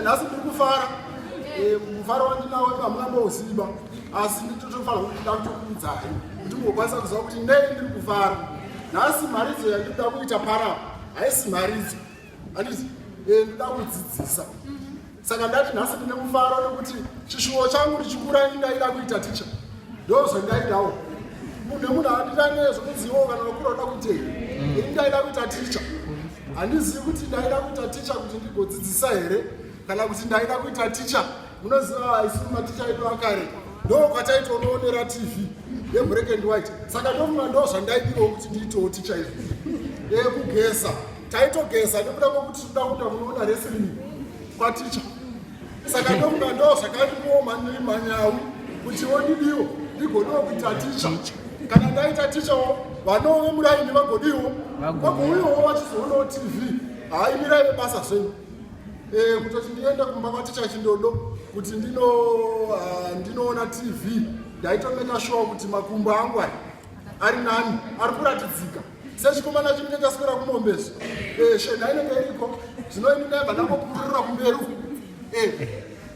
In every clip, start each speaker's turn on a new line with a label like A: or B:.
A: nhasi ndiri kufara eh, mufaro wandinawo hamuna mbouziva asi nditotofanira kuti ndakutokuudzai kuti mugokwanisa kuziva kuti nei ndiri kufara nhasi mharidzo yandinoda kuita para haisi mharidzo andizi eh, ndoda kudzidzisa saka ndati nhasi ndine mufaro nekuti chishuwo changu ndichikura indaida kuita ticha ndozvendaidawo munhu nemunhu andirane zvokuzivawo kana vakura uda kuitei mm. ini ndaida kuita ticha handizivi kuti ndaida kuita ticha kuti ndigodzidzisa here kana kuti ndaida kuita ticha munoziva isiri maticha edu akare ndo kwataitonoonera tv yebreak and white saka ndofunga ndo zvandaidirawo kuti ndiitewo ticha izvi yekugeza taitogeza nekuda kwekuti tikuda kuda kunoona wrestling kwaticha saka ndokuda ndo zvakandikuoma ndiri manyawi kuti wodidiwo ndigonewo kuita ticha kana ndaita tichawo vanove muraini vagodiwo vagouyawo vachizoonawo tv haimirai vebasa zvenyu eh, kutoti ndiende kumba kwaticha chindodo kuti ndino ah, ndinoona tv ndaitomeka shuwa kuti makumbo angu ari nani ari kuratidzika sechikomana chinenge chaswera kumombe izvi eh, shena inenge iriko zvino ini ndaibva ndangopururira kumberi uku eh,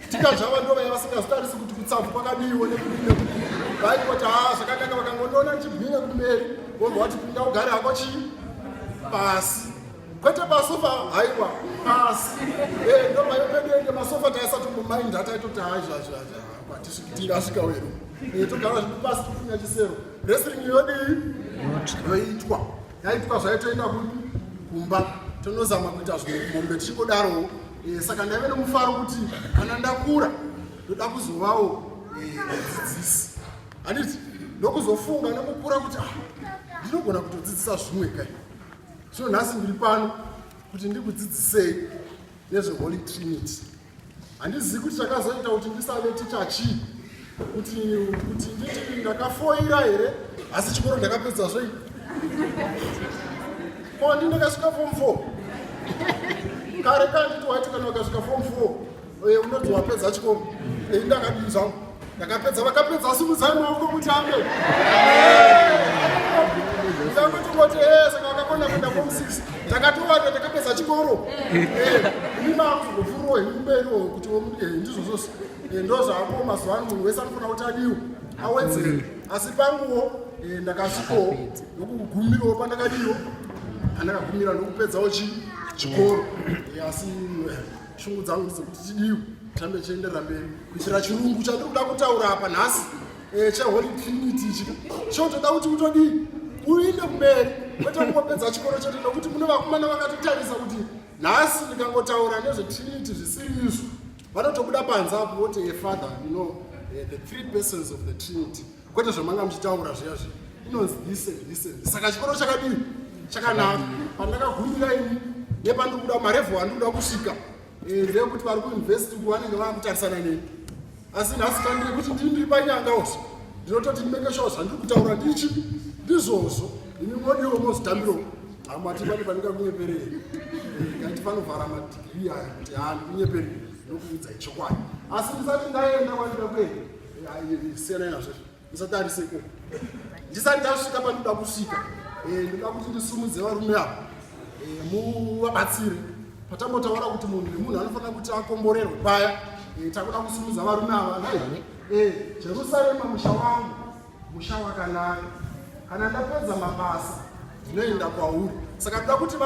A: tikazvava ndo vaya vasingazitarisi kuti kutsavu kwakadiiwo nekudii vaikoti ha ah, zvakanaka vakangondiona ndichibwinya kumberi vobva wati pinda ugare hako chii pasi kwete masofa haiwa pasi eh, ndo mayo pedu ende masofa taisatomumainda taitoti haizvazvazva kwatisviki tingasvika wedu togara zvipasi tifunya chisero wrestling yodii yoitwa yaitwa zvaitoenda kupi kumba tinozama kuita zvimombe tichingodarowo eh, saka ndaive nemufaro kuti kana ndakura ndoda kuzovawo eh, mudzidzisi handiti ndokuzofunga nekukura kuti ah, ndinogona kutodzidzisa zvimwe kai zvino nhasi ndiri pano kuti ndikudzidzisei nezveholy trinity handizivi kuti chakazoita kuti ndisave ticha chii kuti kuti nditi ndakafoira here asi chikoro ndakapedza zvei ko ndi ndakasvika fom four kare kanditi waiti kana wakasvika fom four eh, unonzi wapedza chikoro ei eh, ndakadii zvangu Ndakapedza vakapedza simudzai maoko mutambe. Mutambe tongoti eh saka vakakona kuenda form 6. Ndakatowana ndakapedza chikoro. Eh, ini maku zvofuro hemberi kuti womuke eh, ndizvo zvose. Eh, Ndozvapo mazuva ano munhu wese anofana kuti adiwe. Awedzere. Asi panguwo eh, ndakasvikowo nokugumirawo pandakadiwo. Andakagumira nokupedzawo chi chikoro. Eh, Asi eh, shungu dzangu dzekuti tidiu tambe chienderera mberi kuitira chirungu chandiri kuda kutaura apa nhasi eh, cheholy trinity ichi chotoda kuti utodii uinde kumberi kwete kungopedza chikoro chete nokuti mune vakomana vakatotarisa kuti nhasi ndikangotaura nezvetrinity zvisiri izvo vanotobuda panze apo voti efather eh, you know eh, the three persons of the trinity kwete zvamanga muchitaura zviya zviya inonzi this and this and this saka chikoro chakadii chakanaka pandakagumira ini nepandiri kuda marevo andiri kuda kusvika eh, ndeyekuti vari kuinvesti uku vanenge vava kutarisana neni asi nhasi kandiri kuti ndii ndiri panyanga usi ndinototi ndimeke shuwa zvandiri kutaura ndii chipi ndizvozvo ini modiwo mozitambiro hamati pane pandingakunyeperei eh, kaiti panovhara madigiri aya kuti haa ndikunyeperei ndokuudzai chokwadi asi ndisati ndaenda kwandida kuenda siyanai nazvo musatarise ko ndisati ndasvika panoda kusvika eh, ndoda kuti ndisumudze varume ava eh, muvabatsire patambotaura kuti munhu nemunhu anofanira kuti akomborerwe paya eh, takuda kusumudza varume ava nai jerusarema musha wangu musha wakanaka kana ndapedza mabasa ndinoenda kwauri saka ndoda kuti